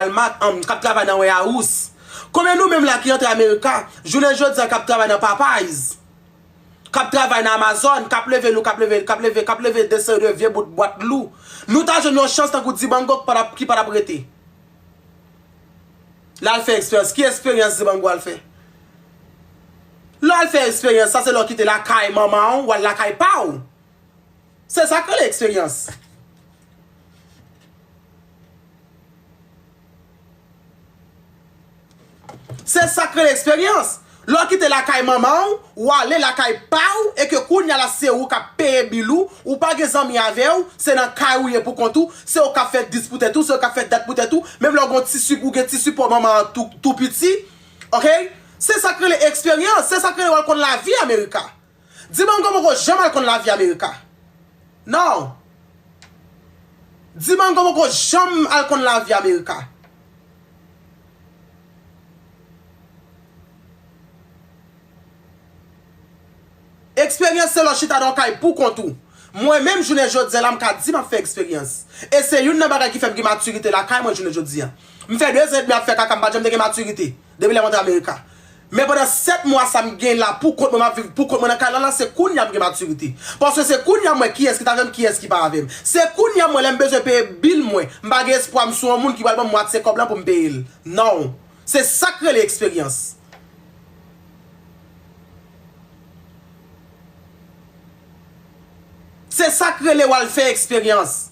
Walmart an kap travay nan Warehouse. Konbyen nou menm la ki antre America jounen jodi an kap travay nan Popeyes, kap travay nan Amazon, kap leve lou, kap leve, kap leve, kap leve de seri de vye bout bwat lou. Nou ta jwenn yon chans tankou Dibango ki pa tap rete. Lal fè eksperyans. Ki eksperyans Dibango al fè? Lè w al fè eksperyans sa se lè w kite lakay manman w, w al lakay pa w. Se sak rele eksperyans. Se sak rele eksperyans. Lè w kite lakay manman w, w ale lakay pa w e ke kounya la se ou k ap peye bil ou, ou pa gen zanmi avè w, se nan kay ou ye pou kont ou, se ou k ap fè 10 pou tèt ou, se ou k ap fè dat pou tèt ou, menm lè w gen yon ti sip, ou gen ti sipò manman an tou piti. Ok. Se sak rele eksperyans. Se sak rele w al konn lavi America. Di banm koman ou ko janm al konn la vie America non Di banm koman ou ko janm al konn la vie America. Experience se lè w chita nan yon kay pou kont ou. Mwen menm jounen jodi an la m ka di map fè eksperyans. E se youn nan bagay ki fèm gen maturite lakay mwen jounen jodi an. M fè 2 zan edmi ap fè kaka m pat janm te gen maturite. Depi lè m antre America. Men pandan 7 mwa sa m gen la pou kont mwen, m ap viv pou kont mwen nan kay la la, se kounya m gen matirite. Paske se kounya m wè kiyès ki t avè m, kiyès ki pa avè m. Se kounya m wè lè m bezwen peye bill mwen, m pa gen espwa m sou yon moun ki pral ban m mwatye kòb lan pou m peye l. Non. Se sa k rele eksperyans. Se sa k rele w al fè eksperyans.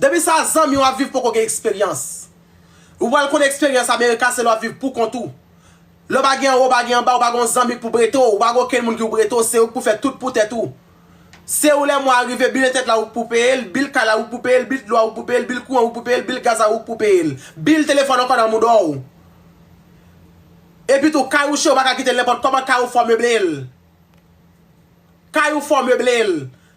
Depi sa zanmi w ap viv poko gen eksperyans. Ou pral konn eksperyans America se lè w ap viv pou kont ou. Lè w pa gen anwo ou pa gen anba ou pa gen yon zanmi k pou brete w ou pa gen okenn moun ki pou brete w se ou k pou fè tout pou tèt ou. Se ou lè mwa a rive bil entèt la ou k pou peye l, bil kay la ou k pou peye l, bil dlo a ou k pou peye l, bil kouran ou k pou peye l, bil gaz la ou k pou peye l, bil telefòn ankò nan moudon w. Epi tou kay ou che ou pa ka kite l nenpòt kòman kay ou fò w meble l. Kay ou fò w meble l.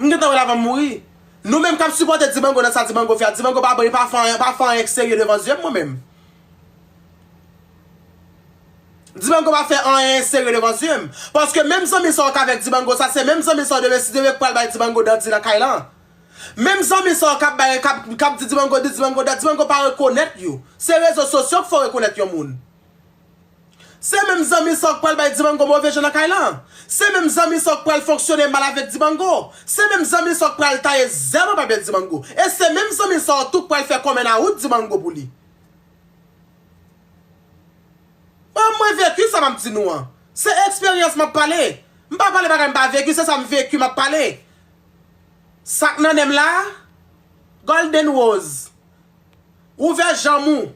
M gentan wè l avan m mouri. Nou menm k ap sipòte Dibango nan sa Dibango fè a, Dibango pa bon, li pa fè anyen k serye devan zye m mwen menm. Dibango pa fè anyen serye devan zye m. Paske menm zanmi sa w k avèk Dibango sa, se menm zanmi sa w demen si demen k pral bay Dibango dandi nan kay lan. Menm zanmi sa w k ap bay, k ap di Dibango di, Dibango dat, Dibango pa rekonèt yo. Se rezo sosyo k fè w rekonèt yon moun. Se menm zanmi sa w k pral bay Dibango move je nan kay lan. Se menm zanmi sa w k pral fonksyone mal avèk Dibango. Se menm zanmi sa w k pral taye zèl nan papye Dibango. E se menm zanmi sa w tou k pral fè kòmè nan wout Dibango pou li. Bon, mwen veki sa m ap di nou an. Se eksperyans m ap pale. M pa pale bagay m pa veki, se sa m veki m ap pale. Sa k nan nen m la a? Golden Rose, ouvè janm ou.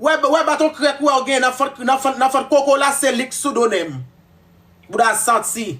Wè baton krèk ou a ou gen nan fant koko la se lik sou do nen m. Bouda santi.